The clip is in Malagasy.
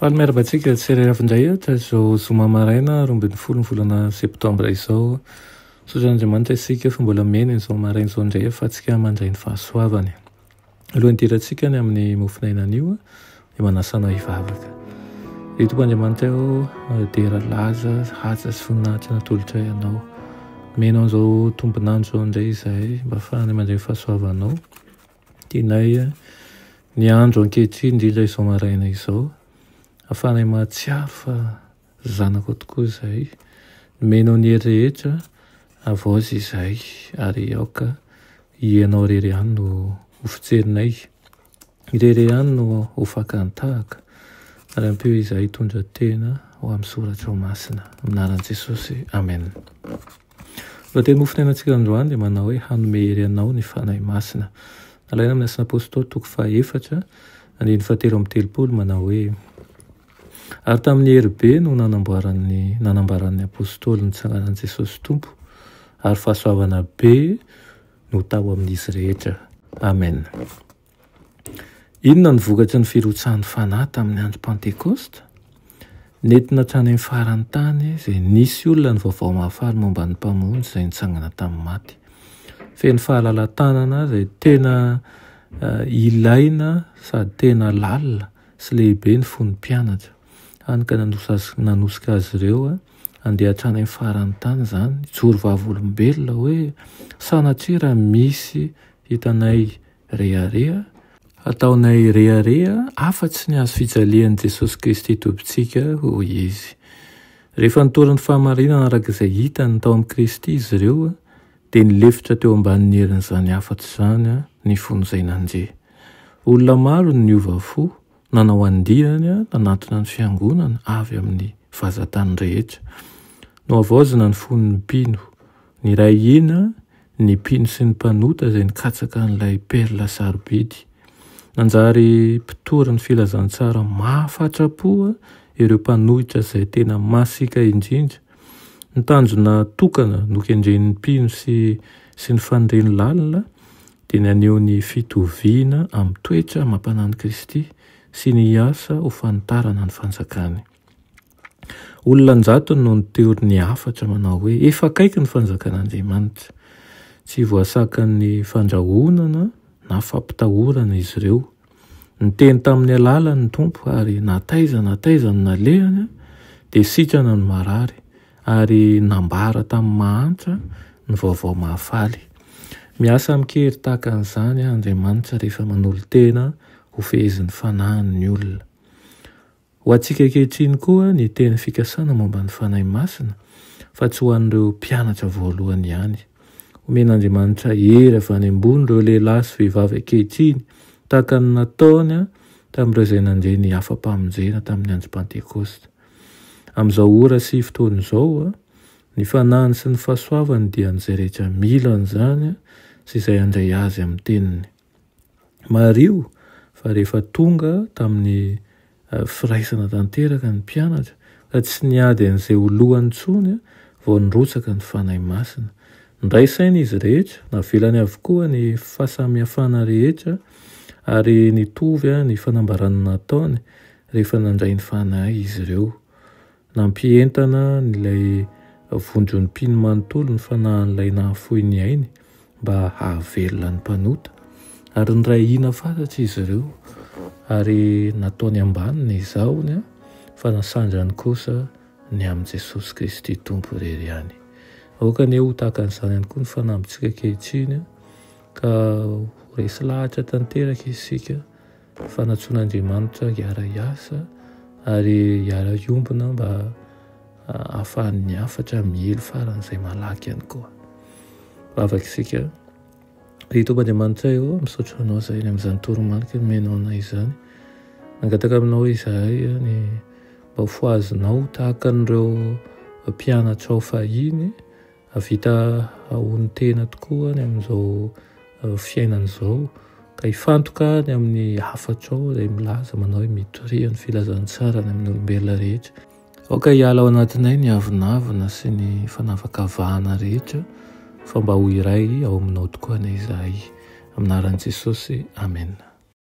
Faly miarahaba antsika tsy irery avy indray aho tamin'izao zoma maraina roa ambin'ny folo ny volana septambra izao. Misaotra an'Andriamanitra isika fa mbola miaina an'izao maraina izao indray ahafahantsika mandray ny fahasoavany. Alohan'ny hidirantsika any amin'ny mofon'aina anio dia manasa anao hivavaka. Ry Tompo Andriamanitra aho dera laza, haja sy voninahitra natolotra ianao. Menao an'izao tombonandro izao indray izahay mba hahafahana mandray ny fahasoavanao. Tianay ny andro ankehitriny, indrindra izao maraina izao, ahafahanay mahatsiaro fa zanakao tokoa izahay. Nomena ao ny hery rehetra, havaozy izahay, ary aoka Hianao irery ihany no ho fijerinay, irery ihany no ho fakan-tahaka, ary ampio izahay hitondra tena ho amin'ny Soratrao Masina. Amin'ny anaran'i Jesosy, Amen. Ny lohatenin'ny Fofon'ainantsika androany dia manao hoe Hanome hery anao ny Fanahy Masina. Nalaina amin'ny Asan'ny Apostoly toko fahaefatra, andininy fahatelo amby telopolo, manao hoe, Ary tamin'ny hery be no nanamboaran'ny, nanambaran'ny Apostoly ny tsanganan'i Jesosy Tompo, ary fahasoavana be no tao amin'izy rehetra. Amen. Inona no vokatry ny firotsahan'ny Fanahy tamin'ny andro Pantekosta? Nentina hatrany amin'ny faran'ny tany izay nisy olona ny vaovao mahafaly momba ny Mpamonjy izay nitsangana tamin'ny maty. Feno fahalalatanana izay tena eh, ilaina sady tena lalina sy lehibe ny fon'ny mpianatra. Hany ka nanosika azy ireo eh, handeha hatrany amin'ny faran'ny tany izany, joro vavolombelona hoe sanatria raha misy hitanay Rehareha, Hataonay rehareha afa-tsy ny hazo fijalian'i Jesosy Kristy Tompontsika, hoy izy. Rehefa nitory ny fahamarinana araka izay hitany tao amin'i Kristy izy ireo, dia nilefitra teo ambanin'ny herin'izany hafatra izany ny fony izay nandre. Olona maro no niova fo, Nanao andiany nanatona ny Fiangonana avy amin'ny vazantany rehetra. Nohavaozina ny fon'ny mpino. Niray hina ny mpino sy ny mpanota izay nikatsaka an'ilay perla sarobidy. Nanjary mpitory ny filazantsara mahafatra-po ireo mpanohitra izay tena masika indrindra. Ny tanjona tokana nokendren'ny mpino sy sy ny faniriny lalina dia naneho ny fitoviana amin'ny toetra amam-panan'i Kristy sy ny hiasa ho fanitarana ny fanjakany. Olona an-jatony no niteory ny hafatra manao hoe, Efa akaiky ny fanjakan'Andriamanitra. Tsy voasakan'ny fandrahonana na fampitahorana izy ireo. Niteny tamin'ny alalany ny Tompo ary na taiza na taiza no nalehany dia sikana ny marary ary nambara tamin'ny mahantra ny vaovao mahafaly. Miasa amin-kery tahaka an'izany Andriamanitra rehefa manolo-tena hofehezin'ny fanahiny ny olona. Ho antsika ankehitriny koa ny teny fikasana momba ny Fanahy Masina fa tsy ho an'ireo mpianatra voalohany ihany. Omen'Andriamanitra hery avy any ambony ireo lehilahy sy vehivavy ankehitriny tahaka ny nataony tamin'ireo izay nandre ny afa-pamonjena tamin'ny andro Pantekosta. Amin'izao ora sy fotoana izao, ny Fanahiny sy ny fahasoavany dia an'izay rehetra mila an'izany sy izay handray Azy amin'ny teniny. Mariho fa rehefa tonga tamin'ny firaisana tanteraka ny mpianatra ka tsy niady an'izay ho lohany intsony vao nirotsaka ny Fanahy Masina. Nindray saina izy rehetra, navelany avokoa ny fahasamihafana rehetra ary nitovy ny fanambarana nataony rehefa nandray ny Fanahy izy ireo. Nampientana an'ilay vonjon'ny mpino manontolo ny fanahin'ilay nahafoy ny ainy mba hahavelona ny mpanota, ary niray hina fatratra izy ireo, ary nataony ambany ny zahony, fa nasandrany kosa ny amin'i Jesosy Kristy Tompo irery ihany. Aoka anie ho tahaka an'izany ihany koa ny fanambintsika ankehitriny, ka ho resy lahatra tanteraka isika, fanatsoan'Andriamanitra hiara-hiasa ary hiara-hiombona mba ahafahan'ny hafatra miely faran'izay malaky ihany koa. Vavaka isika. Ry Tompon'Andriamanitra eo, misaotra anao izay any amin'izany toromarika nomenao anay izany. Nangataka aminao izahay ny mba ho fohazinao tahaka an'ireo mpianatrao fahiny Hahavita hahono tena tokoa ny amin'izao fiainana izao ka hifantoka ny amin'ny hafatrao izay milaza manao hoe mitoria ny filazantsara ny amin'ny olombelona rehetra. Aoka hiala ao anatinay ny avonavona sy ny fanavakavahana rehetra fa mba ho iray ao aminao tokoa anie izahay. Amin'ny anaran'i Jesosy, amena.